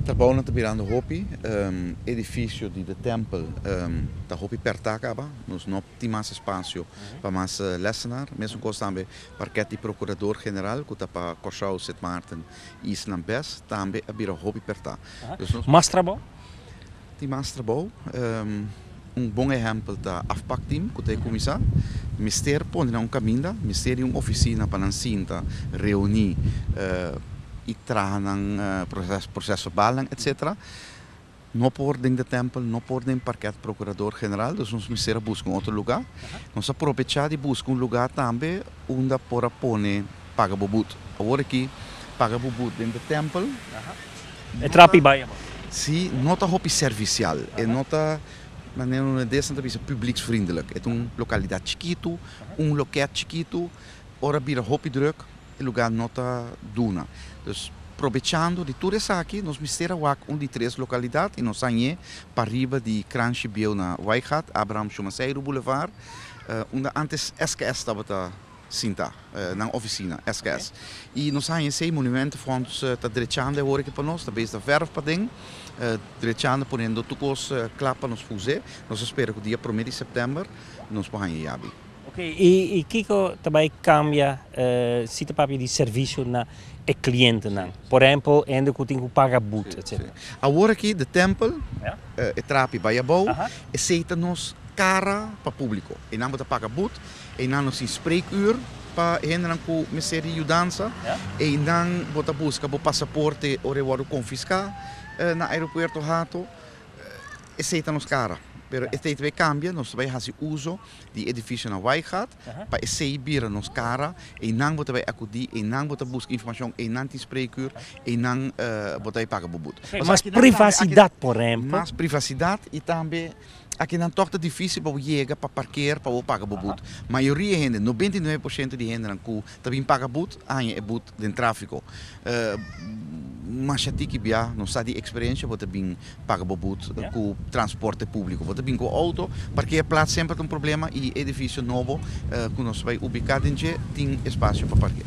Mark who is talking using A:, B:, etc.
A: Trabounan ta birando hopi, edifisio di The Temple ta hopi pertá kaba, nos no tin mas espasio pa mas lèsenan, mesunkosa tambe parkèt di Prokurador General ku ta pa Kòrsou, Sint Maarten, East nan Best tambe a bira hopi pertá. Mas trabou?
B: Tin mas
A: trabou. Un bon ehèmpel ta Afpak Tim ku ta e kuminsá. Mester pone nan un kaminda, mester di un ofisina pa nan sinta, reuní i traha nan proses verbalnan etsetera. No por den de tèmpel, no por den parkèt prokurador general, dus nos mester a buska un otro lugá. Nos a probechá di buska un lugá tambe unda por a pone. Paga bo but. Awor aki, paga bo but den de tempel. E
B: trapi bai abo. Sí, no ta
A: hopi servicial. E no ta, manera un holandés nan ta bisa, publieksvriendelijk. E ta un lokalidad chikitu, un loket chikitu. Ora bira hopi druk, e lugá no ta duna. Dus, probechando di tur esaki, nos mester a wak un di tres lokalidad i nos sa ñe pariba di Kransje Bieuw na Wijgat, Abraham Schumanseiru Boulevard, unda antes SKS tabata. Sinta nan oficina SKS y nos hanja esey monument fonds ta drechando e hora aki pa nos, ta besta verf paden, drechando ponendo tur cos cla pa nos fuse. Nos a spera cu dia prome di september nos por hanja yabi. Ok, y
B: kico ta bay cambia si ta papia di servicio na e clientenan, por ehempel hende cu tin cu paga boet etc. Awor aki de
A: tempel e trapi bay abao, esey ta nos cara pa publico. Enan bo ta paga boet Einanos tin spreekuur pa e hendenan ku mester di yudansa. Einan bo ta buska bo pasaporte ora e wòrdu konfiská na aeropuerto Hato. Esei ta nos kara. Pero esei ta bai kambia. Nos ta bai hasi uso di edifisio na Wijgaard pa esei bira nos kara. Einan bo ta bai akudí, einan bo ta buska informashon, einan tin spreekuur, einan bo ta bai paga bo but. Mas privasidat,
B: por ehempel. Mas privasidat
A: i tambe Akinan tòg ta difísil pa bo yega pa parkeer pa bo paga bo but. Mayoria e hende, nobenta i nuebe por shento di hendenan ku ta bin paga but, haña e but den tráfiko. Masha tiki bia, nos sa di eksperensha, bo ta bin paga bo but ku transporte públiko. Bo ta bin ku outo, parkeer plats semper ta un problema i e edifisio nobo ku nos bai ubiká den dje tin espasio pa parkeer.